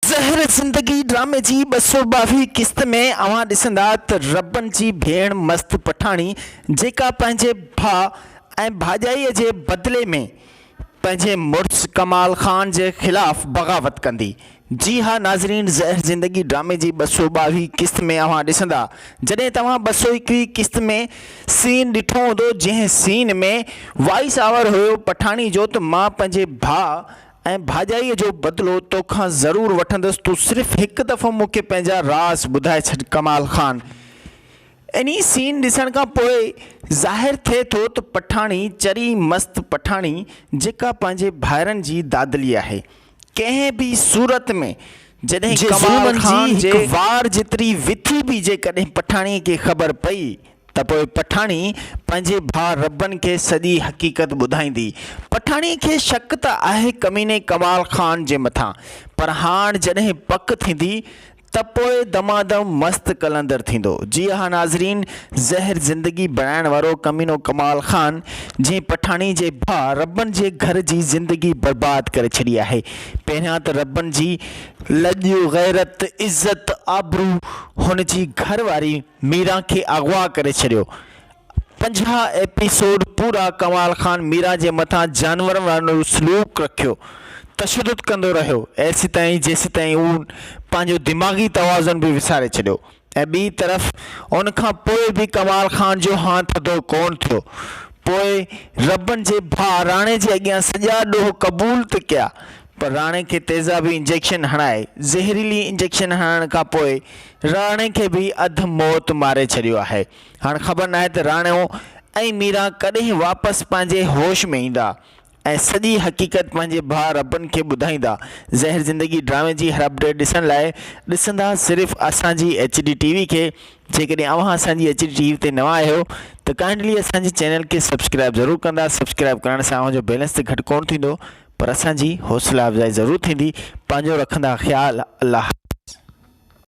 زهر زندگي ڊرامي جي ٻه سؤ ٻاويهه قسط ۾ اوهان ڏسندا ته ربن جي ڀيڻ مست پٺاڻي جيڪا پنهنجي ڀاء ۽ ڀاڄائي جي بدلي ۾ پنهنجي مڙس ڪمال خان جي خلاف بغاوت ڪندي جي ها ناظرين زهر زندگي ڊرامي جي ٻه سؤ ٻاويهه قسط ۾ اوهان ڏسندا جڏهن توهان ٻه سؤ ايڪويهه قسط ۾ سين ڏٺو هوندو جنهن سين ۾ وائيس آور هيو پٺاڻي جو ته مان پنهنجي ڀاء ۽ ڀاڄائيء جو بدلو تو کان ضرور وٺندس، تون صرف هڪ دفعو مون کي پنهنجا راز ٻڌائي ڇڏ ڪمال خان. انهي سين ڏسڻ کان پوء ظاهر ٿئي ٿو ته پٺاڻي چري مست پٺاڻي جيڪا پنهنجي ڀائرن جي دادلي آهي ڪنهن به صورت ۾ جڏهن ڪمال خان جي هڪ وار جيتري وٿي به جيڪڏهن پٺاڻي کي خبر پئي ته پوء پٺاڻي پنهنجي ڀاء ربن کي سڄي حقيقت ٻڌائيندي. پٺاڻيء کي شڪ ته آهي ڪميني ڪمال خان جي مٿان، پر هاڻ جڏهن پڪ ٿيندي ته پوء دمادم مست قلندر ٿيندو. جي ها ناظرين، زهر زندگي بڻائڻ وارو ڪمينو ڪمال خان، جنهن پٺاڻي جي ڀاء ربن جي گهر جي زندگي برباد ڪري ڇڏي آهي، پهريان ته ربن جي لڄ، غيرت، عزت، آبرو، هن جي گهر واري، ميران کي اغوا ڪري ڇڏيو. پنجاهه ايپيسوڊ پورا ڪمال خان ميران جي مٿان جانورن وارو سلوڪ رکيو تشدد ڪندو رهيو ايسيتائين جيسيتائين هو پنهنجو دماغي توازن به وساري ڇڏيو ۽ ٻي طرف ان کان پوء به ڪمال خان جو هانء ٿڌو ڪون ٿيو پوء ربن جي ڀاء راڻي جي اڳيان سڄا ڏوهه قبول ته ڪيا پر راڻي کي تيزابي انجيڪشن هڻائي زهريلي انجيڪشن هڻڻ کان پوء راڻي کي به اڌ موت ماري ڇڏيو آهي. هاڻ خبر ناهي ته راڻو ۽ ميرا ڪڏهن واپس پنهنجي هوش ۾ ايندا ۽ سڄي حقيقت پنهنجي ڀاء ربن کي ٻڌائيندا. زهر زندگي ڊرامي جي هر اپڊيٽ ڏسڻ لاء ڏسندا صرف اسان جي ايڇ ڊي ٽي وي کي جيڪڏهن اوهان اسان جي ايڇ ڊي ٽي وي تي نوان آهيو ته ڪائنڊلي اسان جي چينل کي سبسڪرائب ضرور ڪندا سبسڪرائب ڪرڻ سان اوهان جو بيلنس ته گهٽ ڪونه ٿيندو پر اسان جي حوصلا افزائي ضرور ٿيندي پنهنجو رکندا خيال الله حافظ.